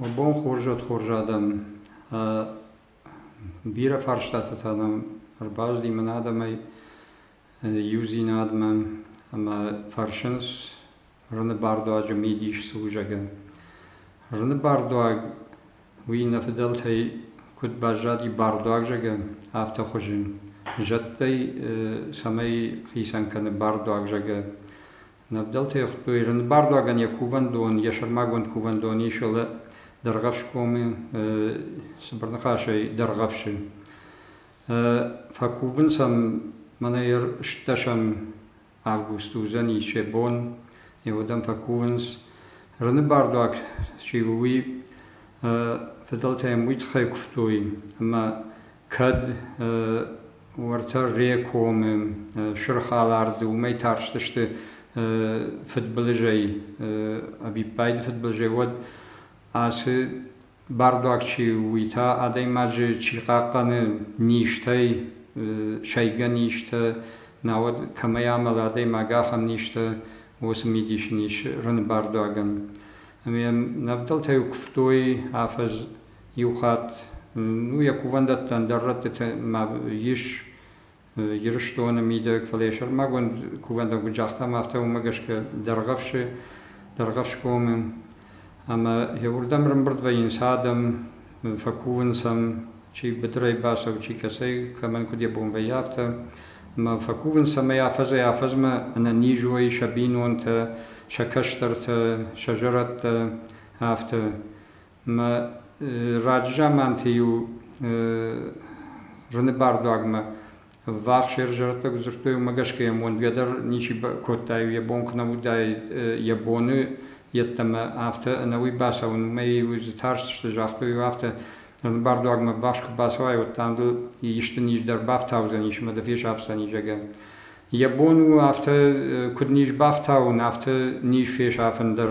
Уӕ бон хорз уӕд хорз адӕм. Бирӕ фарстатӕ та нӕм ӕрбаздимын адӕмӕй иудзинадмӕ ӕмӕ фӕрсынц Рыны бардуаджы мидис цы у, зӕгъгӕ. Рыны бардуаг, уый нӕ фыдӕлтӕй куыд баззади бардуаг, зӕгъгӕ, афтӕ хуызы. Зӕдтӕй цӕмӕй хицӕн кӕны бардуаг, зӕгъгӕ, Нӕвдӕлтӕ йӕхуыдтой Ирыны бардуагӕн йӕ кувӕндон, йӕ сӕрмагонд кувӕндон ис ӕлӕ Дӕргъӕфсгомы цыбыр ныхасӕй Дӕргъӕфсы. Фӕкувынц ӕм мӕнӕ ӕрстдӕсӕм август уыдзӕни се бон, уӕдӕм фӕкувынц. Рыны бардуаг чи у, уый фыдӕлтӕ йӕм уый тыххӕй куывтой, ӕмӕ Кӕд уӕртӕ Рекомы сырх алард уымӕй тарстысты фыдбылызӕй, ӕвиппайды фыдбылызӕй, уӕд ацы бардуаг чи у, уый та адӕймаджы чи хъахъхъӕны низтӕй, сайгӕ низтӕ, науӕд кӕмӕй амӕлы адӕймаг, ахӕм низтӕ уыцы мидисы низ рыны бардуагӕн. Ӕмӕ йӕм нӕвдӕлтӕ-иу куывтой афӕдз Иу хатт, ну, йӕ кувӕндӕттӕн дӕр рӕттытӕ ис Ирыстоны мидӕг, фӕлӕ йӕ сӕрмагонд кувӕндон загътам, афтӕ уымӕ гӕсгӕ Дӕргъӕвсы, Дӕргъӕвсгомы. Ӕмӕ йӕ уырдӕм рымбырд вӕййынц адӕм, фӕкувынц ӕм, чи быдырӕй бацӕуы, чи кӕцӕй, кӕмӕн куыд йӕ бон вӕййы, афтӕ. Ӕмӕ фӕкувынц, ӕмӕ афӕдзӕй-афӕдзмӕ ӕнӕнизуӕй сӕ бинонтӕ, сӕ кӕстӕртӕ, сӕ зӕрӕдтӕ, афтӕ. Мӕ раззаманти-иу зуни бардуагмӕ ввахс ӕрзӕрдтӕг дзурдтой, уымӕ гӕсгӕ йӕм уӕндгӕ дӕр ничи кодтаид йӕ бон куы нӕ уыдаид йӕ боны йеддӕмӕ афтӕ ӕнӕуи бацӕуын. Уымӕй-иу дзы тарстысты, загътой-иу афтӕ, бардуагмӕ ввахс куы бацӕуай, уӕд дам дыл исты низ дӕр бафтаудзӕнис ӕмӕ дӕ фесафдзӕни, зӕгъгӕ. Йӕ бон у афтӕ, куыд низ бафтауын, афтӕ низ фесафын дӕр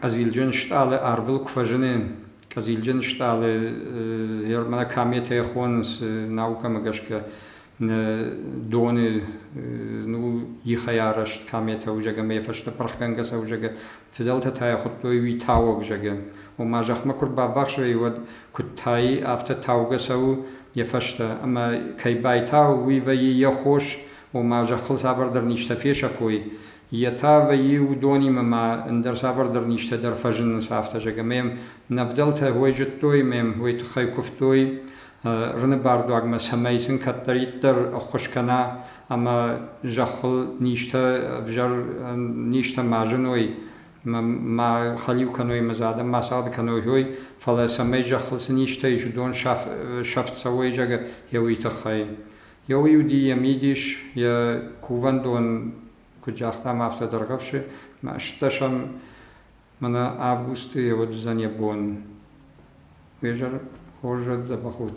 Къӕзилджын стъалы арвыл куы фӕзыны, къӕзилджын стъалы мӕнӕ кометӕ хонынц наукӕмӕ гӕсгӕ доны ну ихӕй арӕзт кометӕ узӕг ӕмӕ йӕ фӕстӕ пырхгӕнгӕ сӕузӕгы фыдӕлтӕ та йӕ хуыдтой уый тауӕг зӕгы. Ома зӕхмӕ куы рбабӕхсай, уӕд куыд тайы, афтӕ таугӕ цӕуы йӕ фӕстӕ. Ӕмӕ кӕй байтау, уый вӕййы йӕ хос, ома зӕххыл цавӕрдӕр низтӕ фесӕфой, Йе та вӕййы уыдонимӕ ма ӕндӕр цавӕрдӕр низтӕ дӕр фӕзынынц афтӕ, зӕгъгӕ, ма йӕм нӕ вдӕлтӕ уӕй зыдтой, ма йӕм уый тыххӕй куывтой, Рыны бардуагмӕ, цӕмӕй сын кӕддӕриддӕр ӕххуыс кӕна ӕмӕ зӕххыл низтӕ ӕвзӕр низтӕ ма зыной, ма хӕлиу кӕной, ма дзы адӕм ма цагъды кӕной, ой, фӕлӕ цӕмӕй зӕххыл цы низтӕ ис, уыдон сӕфт цӕуой, зӕгъгӕ, йӕ уый тыххӕй. Еуей уыди йӕ мидис, йӕ кувӕндон куыд загътам, афтӕ дӕргъӕвсы. Мӕстдӕсӕм мӕнӕ августы йӕ уыдзӕн йӕ бон. Уе зӕр хорзӕд, дзӕбӕх ут!